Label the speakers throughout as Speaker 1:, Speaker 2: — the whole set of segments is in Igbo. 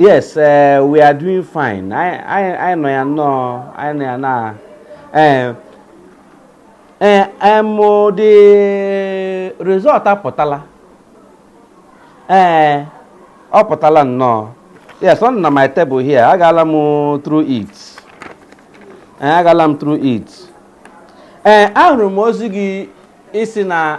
Speaker 1: yes uh, we are doing fine anyị nọ ya nnọọ anyị nọ ya na eh, eh, em the result apụtala ee ọ pụtala nnọọ yes ọ nọ na my table here agaala m through it agaala m through it ee ahụrụ m ozi gị ị sị na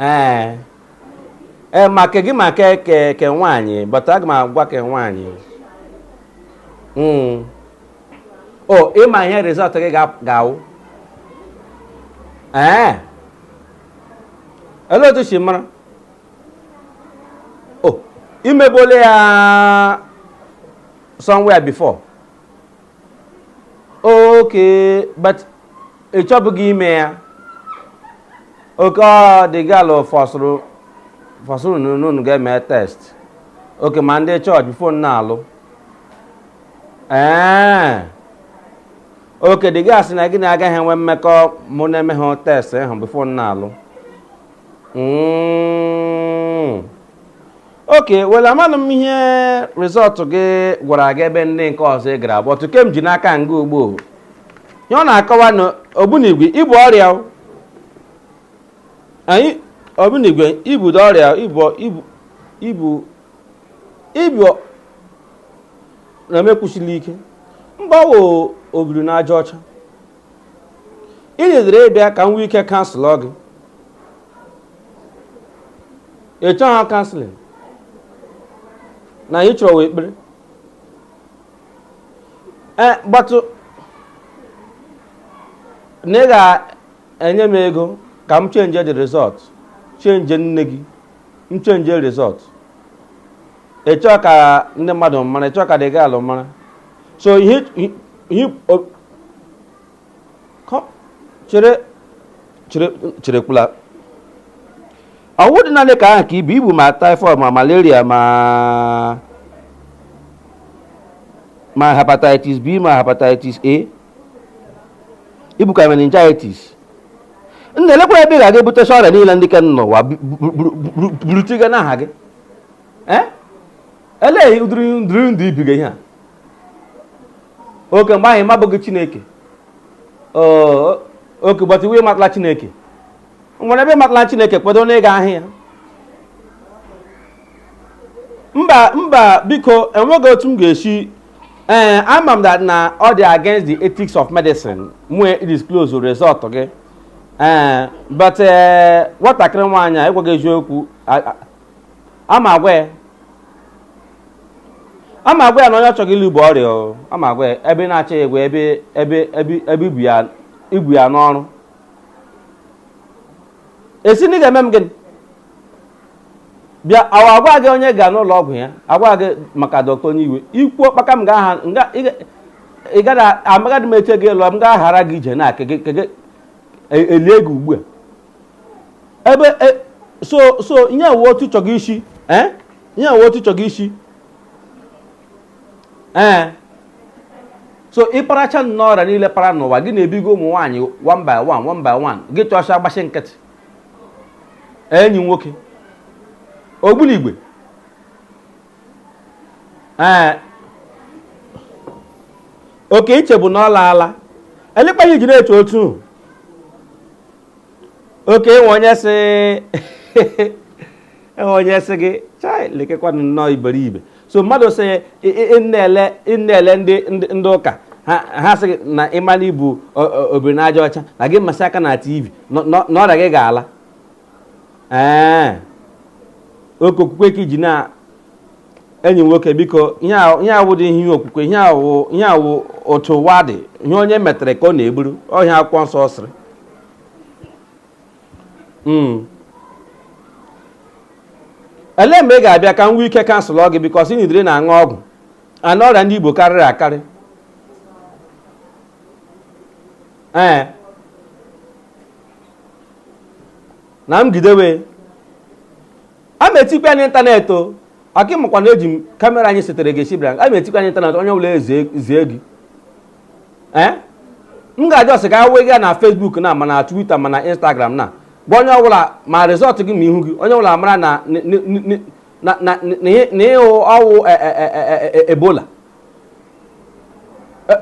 Speaker 1: ee ee ma ke gị ma ke ke ke nwaanyị but aga m agwa ke nwaanyị Mm. o ị ma ihe result gị ga- ga-awụ ee olee otu i si mara o i mebuole ya somewhere before okay but ị chọbụghị ime ya okay the girl fọsụrụ fọsụrụ na unu unu ga-eme test okay ma ndị church before unu alụ ee okay the girl sị na gị na agaghị enwe mmekọ ma unu emeha test ahụ before unu alụ Mm. okay well amanụ m ihe result gị gwara gị ebe ndị nke ọzọ ị gara but ke m ji n'aka nga ugbua ihe ọ na-akọwa na ogbunigwe i bu ọrịa o. anyị ogbunigwe i budị ọrịa i bu i bu i bu i bu na-emekwusili ike mgbawo obiri na aja ọcha ị jikere ịbịa ka m nwee ike counsel gị ị chọghị counselling na ihe ị chọrọ wụ ekpere ee but na ị ga-enye m ego ka m change the result change nne gị m change result ị chọọ ka ndị mmadụ mara ị chọọ ka the girl mara so ihe ihe- ihe o- kọ- chere chere cherekwula ọ wụdị naanị ke ahụ ka i bu i bu ma typhoid ma malaria ma ma hepatitis b ma hepatitis a i bukwa meningitis nna elekwara ebe ị ga-aga ebutesi ọrịa niile ndị ke nọ n'ụwa bu- bu- bu- bu- burutiga n'ahụ gị ee elee ụdịrị ndịrị ndụ ibiga ihe a oke mgbe ahụ ị mabughị chineke okay gbata iwe matala chineke nwere ebe matala chineke kwedo na ịga ahịa mba mba biko enweghị otu m ga-esi ee eh, ama m that na ọ dị against the ethics of medicine m wee disclose result gị ee eh, but eh, nwatakịrị nwaanyị a ị gwaghị eziokwu ama agwa ya ama agwa ya na onye ọ chọga ịlụ bu ọrịa o ama agwa ya ebe ị na-achọ ya egwu ebe ebe ebe ebe ibu ya ibu ya n'ọrụ ị sị na ị ga-eme m gịnị bịa awa agwa gị onye ga n'ụlọ ọgwụ ya agwa gị maka dọkta onye iwe ikwu ọkpaka m ga-aha nga ị ga- ị gaghị amaghadị m eche gị lụọ m ga-aghara gị ije na ke gị- ke gị- e- elie gị ugbu a ebe e, so so ihe a wụ otu ị chọga isi ee eh? ihe a wụ otu ị chọga isi ee eh? so ị paracha nnọọ ọrịa niile para n'ụwa gị na-ebigo ụmụ nwaanyị one by one one by one gị chọcha agbasi nkịtị enyi nwoke ogbunigwe ee okay i chebu na ọ laala elekwa ihe i ji na-eche otu okay enwe onye sị enwe onye sị gị chai lekwanụ nnọọ iberibe so mmadụ sị ị na-ele ndị ụka ha sị gị na ị ma na i bu obiri n'aja ọcha na gị masị aka na tv na ọrịa gị ga-ala ee okay okwukwe ka i ji na enyi nwoke biko ihe a- ihe a awụdị ihe okwukwe ihe a wụ ihe a wụ otu ụwa dị ihe onye metere ka ọ na-eburu ọ ihe akwụkwọ nsọ sịrị Mm. ele mgbe ị ga-abịa ka m nwee ike counsel gị because ị needịrị na-aṅụ ọgwụ and ọrịa ndị i bu karịrị akarị ee na m gidewe a ma etikwa ya n'internet o aka ị makwa na eji m camera anyị setere gị esibra a ma etikwa ya n'internet onye ọbụla ezie zie gị ee m ga-ajụ ọsị ka wee gaa na Facebook na ma na Twitter ma na Instagram na gwa onye ọbụla ma result gị ma ihu gị onye ọbụla mara na na- na- na- na- na- na ihe ọ wụ e- e- e- e- e- ebola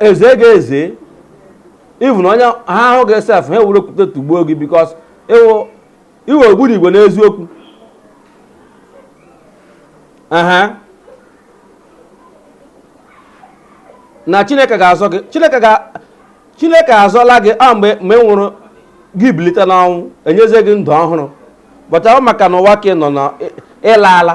Speaker 1: ezee gị eze even onye ha ahụ gị sef ha ewere okwute tụgbuo gị because ị wụ ogbunigwe n'eziokwu aha na chineke ga-azọ gị chineke ga chineke azọla gị a mgbe mgbe ị nwụrụ gị bilite n'ọnwụ e nyezie gị ndụ ọhụrụ but ọ wụ maka na ụwa ka ị nọ na ị laala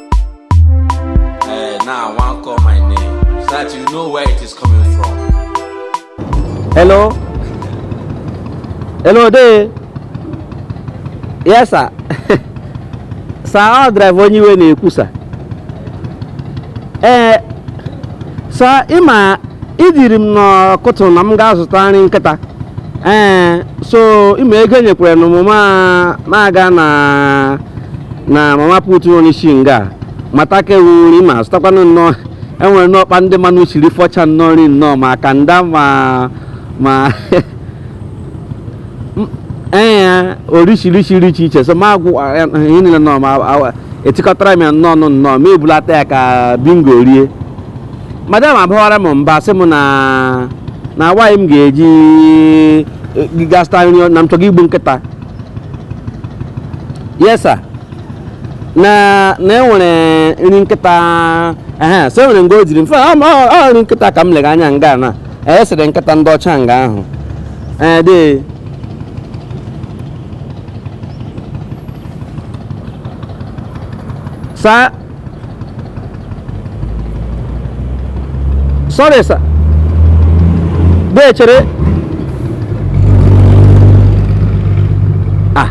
Speaker 2: Eh, now I want call my name so that you know where it is coming
Speaker 3: from. Hello? Hello dee? Yes, sir. sir, ọ driver onye iwe na-ekwu, sir. Ee, eh, sir, ịma i ziri m n'ụtụtụ na m ga-azụta nri nkịta. Ee, eh, so ịma ego enyekwere nụ m ma aga na na mama put nọ n'isi nga a, mata ka ewu nri ma zụtakwanụ nnọọ enwere nnọọ ọkpa ndị mmanụ siri fọcha nnọọ nri nnọọ ma kanda ma ma M- ee orishirishi nri iche iche so ma agwọ ihe niile nnọọ ma awa- etikọtara m ya nnọọ nụ nnọọ ma ebulata ya ka bingo rie madam abawara m mba sị m na na why m ga-eji eh, ga zụta nri na m chọga igbu nkịta yes sir na na enwere nri nkịta ehe so enwere nga ọ dịrị mfe ọ ọ- ọ nri nkịta ka m lega anya nga na e sere nkịta ndị ọcha nga ahụ ee dee sa sorry sir dee chere ah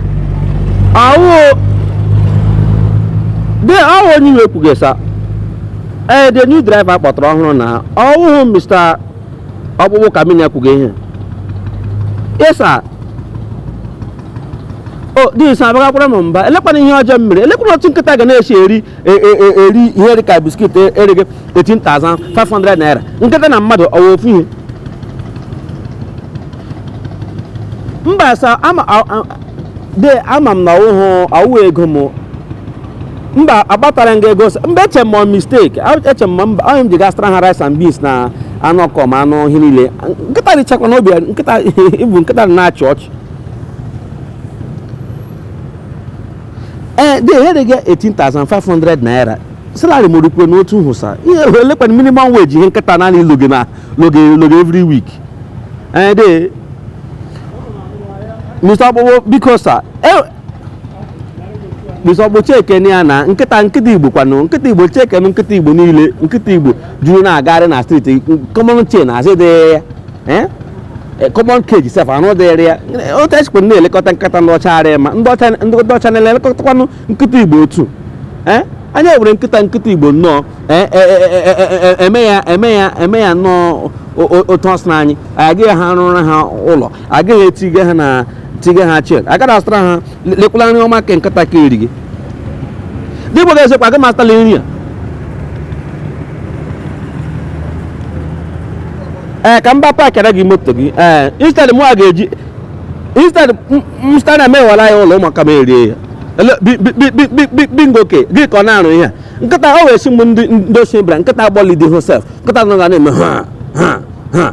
Speaker 3: ọ wụ dee ọ wụ onye iwe kwuga sa ee the new driver kpọtara ọhụrụ na ọwụhụ mr ọkpụkpụ ka m na-ekwuga ihe yes sa o dis abagakwara m mba elekwanụ ihe ọjọọ m mere elekwanụ otu nkịta ga na-esi eri e, e, e, eri ihe dị ka biskit erie 18,500 naira nkịta na mmadụ ọ wụ ofu ihe mba sa ama a- a- dee ama m na ọwụhụ ọwụ ego m mba agbatara nga ego mba eche m mistake eche m mba onye m ji ga zụtara ha rice and beans na anụ ọkụkọ ma anụ ihe niile nkịta richakwa n'obi nkịta ịbụ nkịta na-achị ọchị ee dị ehere gị 18,500 naira salary m rukwe n'otu ahụ sa ihe elekwanụ minimum wage ihe nkịta naanị loge na loge loge every week ee dee mr ọkpụkpụ biko sa mr ọkpụkpụ chekene ya na nkịta nkịta igbo kwanụ nkịta igbo chekene nkịta igbo niile nkịta igbo juru na-agagharị na street common chain azị dịrị ya eh? Eh, common cage sef anụ dịrị ya otu esikwa na-elekọta nkịta ndị ọcha arịa ma ndị ọcha ndị ọcha na-elekọtakwanụ nkịta igbo otu eh? anyị ewere nkịta nkịta igbo nnọọ eme ya eme ya eme ya nnọọ otu ọ sị na anyị agaghị ha arụrụ ha ụlọ agaghị etige ha na tige ha chek agaghị asụtara ha lekwala nri ọma ke nkịta ka eri gị ndị Igbo ga-esekwa agaghị m asụtala nri a ee eh, ka mba paakịara gị moto gị ee eh, instead mụ a ga-eji instead msta na emewala ya ụlọ ụmụaka m erie ya bingo ke gị ka ọ na-arụ ihe a nkịta o wee si mgbe ndị ochie bịara nkịta agbọlidi hosef nkịta nọ ga na-eme ha ha ha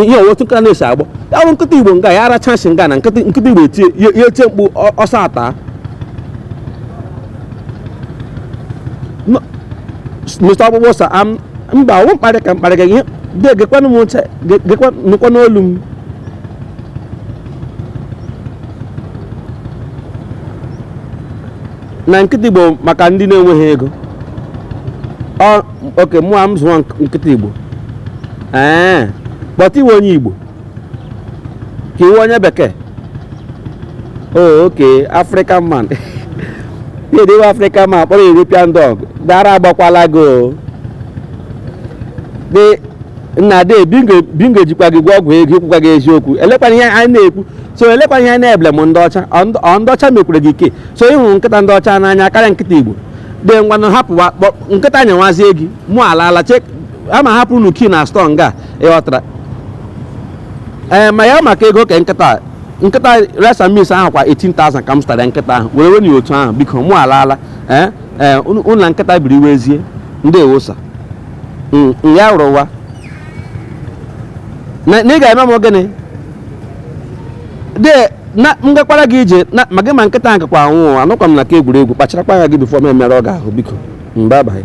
Speaker 3: ihe ọwụ otu nkịta na-esi agbọ ya wụrụ nkịta igbo nga ya aracha nshi nga na nkịta nkịta igbo etie ya ya etie mkpu ọ- ọsọ ata No, s- Mr. ọkpụkpụ sa am mba ọwụ mkparị ka mkparị ka ihe de gekwanụ m ntị ge- gekwa nụkwa n'olu m na nkịta igbo maka ndị na-enweghị ego ọ oke mụ a m zụọ nk- nkịta igbo ee but ị wụ onye igbo ka ị wụ onye bekee o oke african man na-edewe african man kpọrọ european dog ara agbakwala gị o dị nna de bingo bingo jikwa gị gwọọ ọgwụ ego i kwukwaghị eziokwu elekwana ihe anyị na-ekwu so elekwana ihe anyị na-eblame ndị ọcha ọ ndị- ọ ndị ọcha mekwere gị ike so ị hụrụ nkịta ndị ọcha n'anya karịa nkịta igbo de ngwanụ hapụwa kpọ- nkịta nyewazie gị mụ alaala chek ama hapụ unu kii na stọọ nga ịghọtara ee ma ya maka ego ka nkịta a- nkịta resa mis ahụ kwa 18,000 ka m zụtara nkịta ahụ were wenye otu ahụ biko mụ alaala ee ee unu unu na nkịta biri wezie ndị ewosa ya rụwa na na ị ga-eme m gịnị de na m gakwara gị ije na ma gị ma nkịta ahụ kakwa anwụ anọkwa m na ke egwuregwu kpacharakwa anya gị bifo m emerụọ gị ahụ biko mba abaghị